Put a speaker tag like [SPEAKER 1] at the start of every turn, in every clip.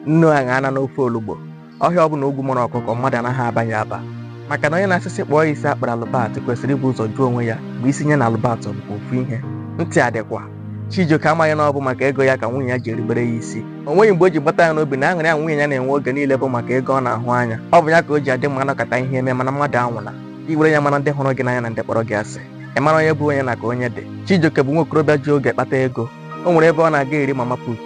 [SPEAKER 1] nnu aṅa ana n'ofe olugbo ọhịa ọbụla ogwu mara ọkụkọ mmadụ anaghị aba ya aba maka na onye na-asị sị kpụọ ya isi a kpụrụ Albert kwesịrị ibu ụzọ jụọ onwe ya ma isi nya na Albert ọ bụkwa ofu ihe ntị adịkwa Chijioke amaghị na ọ bụ maka ego ya ka nwunye ya ji erubere ya isi o nweghị mgbe o ji gbata ya n'obi na aṅụrị a nwunye ya na-enwe oge niile bụ maka ego ọ na-ahụ anya ọ bụ ya ka o ji adị mma a nọkata ihe eme mana mmadụ anwụla i were ya mara ndị hụrụ gị n'anya na ndị kpọrọ gị asị ị mara onye bụ onye na ka onye dị Chijioke bụ nwa okorobịa ji oge kpata ego o nwere ebe ọ na-aga eri mama put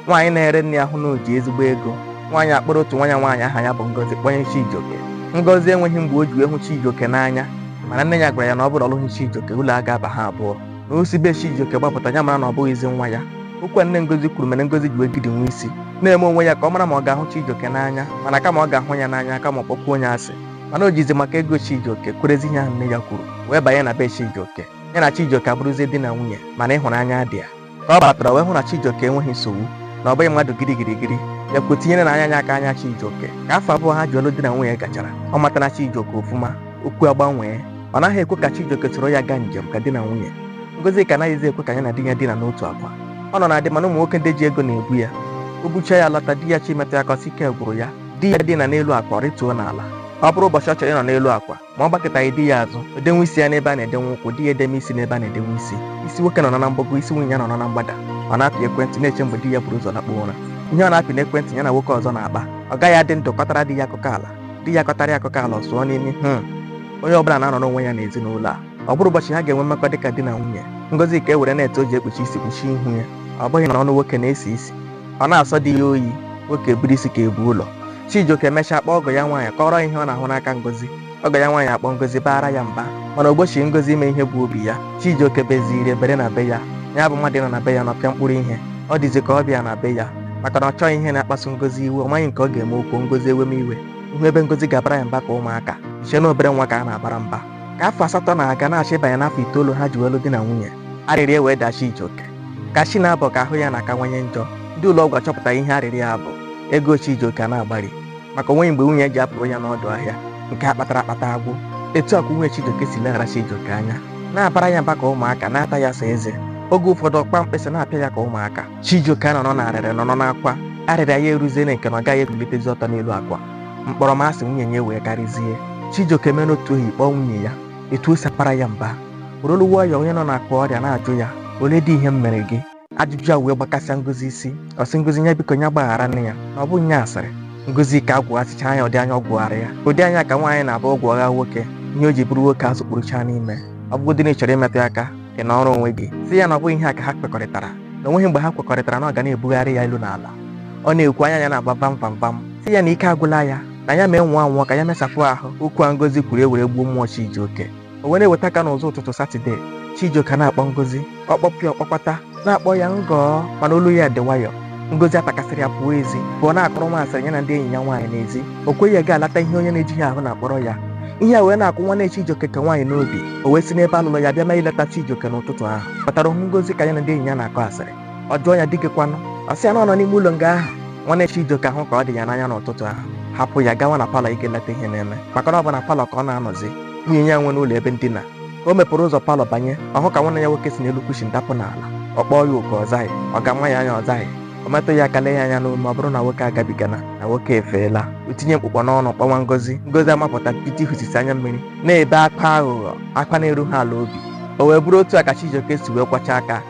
[SPEAKER 1] nwaanyị na-ere nri ahụ na o ji ezigbo ego nwaanyị akpọrọ otu nwa nya nwaanyị aha ya bụ Ngozi kpọnye Chijioke Ngozi enweghị mgbe o ji wee hụ Chijioke n'anya mana nne ya gwara ya na ọ bụrụ ọ lụghị Chijioke ụlọ a ga-aba ha abụọ na o si be Chijioke gbapụta ya mara na ọ bụghịzi nwa ya okwu a nne Ngozi kwuru mere Ngozi ji wee gidi nwa isi na-eme onwe ya ka ọ mara ma ọ ga-ahụ Chijioke n'anya mana kama ọ ga-ahụ ya n'anya kama ọ kpọkwuo nya asị mana o jizi maka ego Chijioke kwerezi ihe ahụ nne ya kwuru wee banye na be Chijioke ya na Chijioke abụrụzie di na nwunye mana ịhụnanya adịa ka ọ batara wee hụ na Chijioke enweghị nsogbu na ọ bụghị mmadụ girigirigiri ya kwuo tinyere na anya anya aka anya Chijioke ka afọ abụọ ha ji wee lụ di na nwunye gachara ọ matara Chijioke ofụma okwu agbanwee ọ naghị ekwe ka Chijioke soro ya gaa njem ka di na nwunye Ngozika anaghịzi ekwe ka ya na di ya dina n'otu akwa ọ nọ na di mana ụmụ nwoke ndị ji ego na-ebu ya o bucha ya lọta di ya chọọ imetụ ya aka ọ sị ike gwụrụ ya di ya dina n'elu akwa ọ rịtuo n'ala ọ bụrụ ụbọchị ọ chọrọ ịnọ n'elu akwa ma ọ gbakụtaghị di ya azụ o denwe isi ya n'ebe a na-edenwe ụkwụ di ya edenwe isi n'ebe a na-edenwe isi isi nwoke nọ na mgbago isi nwunye ya nọ na mgbada ọ na-apị ekwentị na-eche mgbe di ya buru ụzọ lakpuo ụra ihe ọ na-apị n'ekwentị ya na nwoke ọzọ na-akpa ọ gaghị adị ndụ kọtara di ya akụkọ ala di ya kọtara ya akụkọ ala ọ sụọ n'imi hmm onye ọbụla na-anọ n'onwe ya n'ezinụlọ a ọ bụrụ ụbọchị ha ga-enwe mmekọ dịka di na nwunye Ngozika ewere net o ji ekpuchi isi kpuchie ihu ya ọ bụghị na ọnụ nwoke na-esi isi ọ na-asọ di ya oyi nwoke buru isi ka ebu ụlọ Chijioke emechaa kpọọ ọgọ ya nwaanyị kọọrọ ihe ọ na-ahụ n'aka Ngozi ọgọ ya nwaanyị akpọọ Ngozi baara ya mba mana o gbochi Ngozi ime ihe bụ obi ya Chijioke beziri ebere na be ya ya bụ mmadụ ịnọ na be ya nọpịa mkpụrụ ihe ọ dịzi ka ọbịa na be ya maka na ọ chọghị ihe na-akpasu Ngozi iwe ọ maghị nke ọ ga-eme o kwuo Ngozi eweme iwe ị hụ ebe Ngozi ga-abara ya mba ka ụmụaka i chee na obere nwa ka a na-abara mba ka afọ asatọ na-aga na-achọ ịbanye n'afọ itoolu ha ji wee lụ di na nwunye arịrịa wee daa Chijioke ka chi na-abọ ka ahụ ya na-akawanye njọ ndị ụlọ ọgwụ achọpụta ihe arịrịa a bụ ego Chijioke ana-agbari maka o nweghị mgbe nwunye ji apụrụ ya n'ọdụ ahịa nke a kpatara akpata agwụ etu a kwa nwunye Chijioke si leghara Chijioke anya na-abara ya mba ka ụmụaka na-ata ya sọ eze oge ụfọdụ ọ kpa mkpịsị na-apịa ya ka ụmụaka Chijioke nọrọ na arịrị nọrọ n'akwa arịrịa ya eruziene nke na ọ gaghị ebilitezi ọtọ n'elu akwa mkpọrọmasị nwunye nya wee karịzie chijioke mere otu ohi kpọọ nwunye ya etu o si akpara ya mba were olu nwayọ onye nọ n'akwa ọrịa na-ajụ ya olee dị ihe m mere gị ajụjụ a wee gbakasịa ngozi isi ọ sị ngozi ya biko ya gbaghara nya na ọ bụ nya asịrị Ngozika agwụghasịcha anya ụdị anya ọ gwụghara ya ụdị anya ka nwaanyị na-abụ ọ gwụgha nwoke ihe o ji bụrụ nwoke azụkpurucha n'ime ọ bụgodị na ị chọrọ imetụ ya aka ị nọrọ onwe gị sị ya na ọ bụghị ihe a ka ha kwekọrịtara na o nweghị mgbe ha kwekọrịtara na ọ ga na-ebugharị ya elu na ala ọ na-ekwu anya ya na-agba vam vam vam sị ya na ike agwụla ya na ya mee ngwa nwụọ ka ya mesapụ ahụ okwu a ngozi kwuru ewere gbuo mmụọ chijioke o were eweta ka n'ụzọ ụtụtụ satọde chijioke na-akpọ ngozi ọ kpọpụ ya ọ kpọkwata na-akpọ ya ngọọ mana olu ya dị nwayọọ Ngozi atakasịrị ya pụọ ezi pụọ na-akọrọ nwa asịrị ya na ndị enyi ya nwaanyị n'ezi o kweghị ya gaa leta ihe onye na-ejighị ahụ na-akpọrọ ya ihe a wee na-akwụ nwanne Chijioke nke nwaanyị n'obi o wee si n'ebe a lụlụ ya bịa ma ileta Chijioke n'ụtụtụ ahụ batara hụ Ngozi ka ya na ndị enyi ya na-akọ asịrị ọ jụọ ya di gị kwanụ ọ sị ya na ọ nọ n'ime ụlọ nga ahụ nwanne Chijioke ahụ ka ọ dị ya n'anya n'ụtụtụ ahụ hapụ ya gawa na palọ ije leta ihe na-eme maka na ọ bụ na palọ ka ọ na-anọzi nwunye ya nwe n'ụlọ ebe ndina o mepụrụ ụzọ palọ banye ọ hụ ka nwanne ya nwoke si n'elu kushin dapụ n'ala ọ kpọọ ya oku ọ zaghị ọ ga-ama ya anya ọ zaghị ọ metụ ya aka lee ya anya n'ume ọ bụrụ na nwoke agabigana na nwoke efeela o tinye mkpụkpọ n'ọnụ kpọwa ngozi ngozi amapụta piti hụsisi anya mmiri na-ebe akwa aghụghọ akwa na-erughị ala obi o wee bụrụ otu a ka chijioke si wee kwọcha aka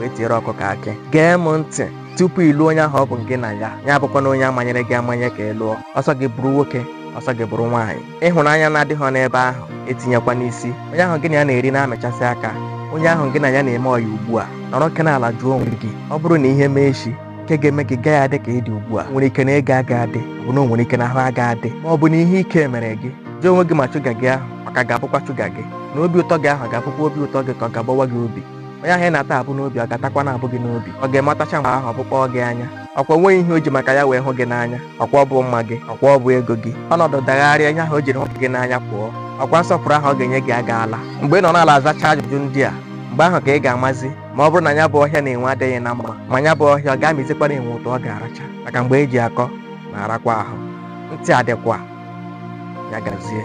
[SPEAKER 1] wee tiere ọkụkọ akị gee m ntị tupu ị lụọ onye ahụ ọ bụ gị na ya ya abụkwana onye a manyere gị amanye ka ị lụọ ọ sọ gị bụrụ nwoke ọ sọ gị bụrụ nwaanyị ịhụnanya na-adịghị n'ebe ahụ etinyekwana isi onye ahụ gị na ya na-eri na-amịchasị aka onye ahụ gị na ya na-eme ọya ugbu a nọrọkene ala jụọ onwe gị ọ bụrụ na ihe mee echi nke ga-eme gị gaghị adị ka ị dị ugbu a nwere ike na ego aga adị bụ na o nwere ike na ahụ aga adị ma ọ bụ na ihe ike mere gị jụọ onwe gị ma shuga gị ahụ ma ọ ka ga-abụkwa shuga gị na obi ụtọ gị ahụ ga-abụkwa obi ụtọ gị ka ọ ga-agbawa gị obi onye ahụ ị na-ata abụ n'obi ọ ga-atakwa na-abụ gị n'obi ọ ga-eme ọ tacha mgbe ahụ ọ bụkpọọ gị anya ọkwa o nweghị ihe o ji maka ya wee hụ gị n'anya ọkwa ọ bụ mma gị ọkwa ọ bụ ego gị ọnọdụ dagharịa ihe ahụ o jiri hụ gị n'anya pụọ ọkwa nsọpụrụ ahụ ọ ga-enye gị agaala mgbe ị nọ n'ala azacha ajụjụ ndị a mgbe ahụ ka ị ga-amazi ma ọ bụrụ na ya bụ ọhịa na enwe adịghị na mma ma ya bụ ọhịa ọ ga-amịzikwara enwe ụtụ ọ ga-aracha maka mgbe e ji akọ na-arakwa ahụ ntị adịkwa ya gazie